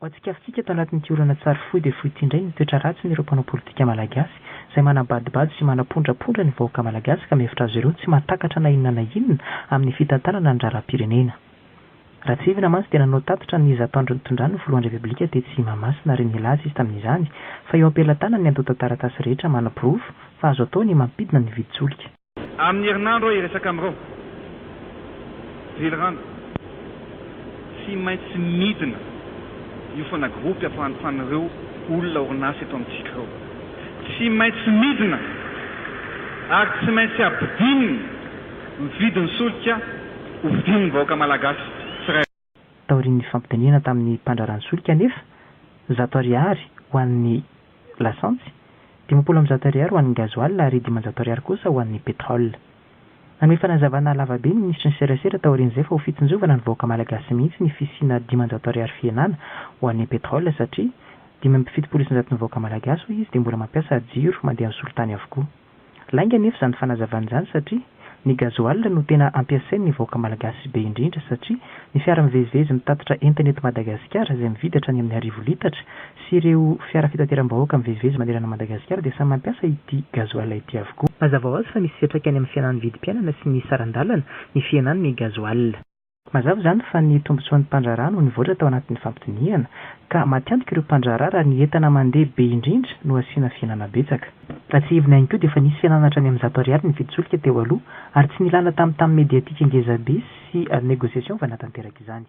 Ho antsika fitsika tao anatin'ity olana tsary fohy dia fohy ity indray ny toetra ratsin'ireo mpanao politika malagasy izay manabadobado sy manapondrapondra ny vahoaka malagasy ka mihevitra azy ireo tsy mahatakatra na inona na inona amin'ny fitantanana ny raharaham-pirenena. Ratsirivina mantsy dia nanao tatitra ny zatoandro nitondran'ny filohan'ny Repoblika tetsy Mahamasina ary nilaza izy tamin'izany fa eo am-pelatanany ny antontan-taratasy rehetra manaporofo fa azo atao ny mampidina ny vidin-tsolika Amin'ny herinandro aho hiresaka amin'ireo velirano, tsy maintsy midina hiofana gropy hafahantohan'ireo olona orinasa eto amintsika ireo. Tsy maintsy midina ary tsy maintsy habidinina ny vidin'ny solika hovidin'ny vahoaka malagasy tsirairay. Taorian'ny fampidinihana tamin'ny mpandraharaha ny solika anefa, zato ariary ho an'ny lasantsy, dimampolo amby zato ariary ho an'ny gasoil ary dimanjato ariary kosa ho an'ny pétrole. Nanome fanazavana lavabe ny minisitry ny serasera taorian'izay fa ho fitsinjovana ny vahoaka malagasy mihitsy ny fisiana dimanjato ariary fihenana ho an'ny pétrole satria dimy amby fitopolo isanjaton'ny vahoaka malagasy hoy izy dia mbola mampiasa jiro mandeha amin'ny solitany avokoa. Lainga anefa izany fanazavana izany satria ny gazoala no tena ampiasain'ny vahoaka malagasy be indrindra satria ny fiara mivezivezy mitatitra entana eto Madagasikara izay mividy hatrany amin'ny arivo litatra sy ireo fiara fitateram-bahoaka mivezivezy manerana an'i Madagasikara dia samy mampiasa ity gazoala ity avokoa. Mazava ho azy fa misy fiantraikany amin'ny fihenan'ny vidim-piainana sy ny saran-dalana ny fihenan'ny gazoala. Mazava izany fa ny tombontsoan'ny mpandraharaha no nivoatra tao anatin'ny fampidinihana, ka matiantoka ireo mpandraharaha raha ny entana mandeha be indrindra no asiana fihenana betsaka. Raha tsiahivina ihany koa dia efa nisy fihenana hatrany amin'ny zato ariary ny vidy solika teo aloha, ary tsy nilana tamin'ny tam mediatika ngezabe sy négociation vao nahatanteraka izany.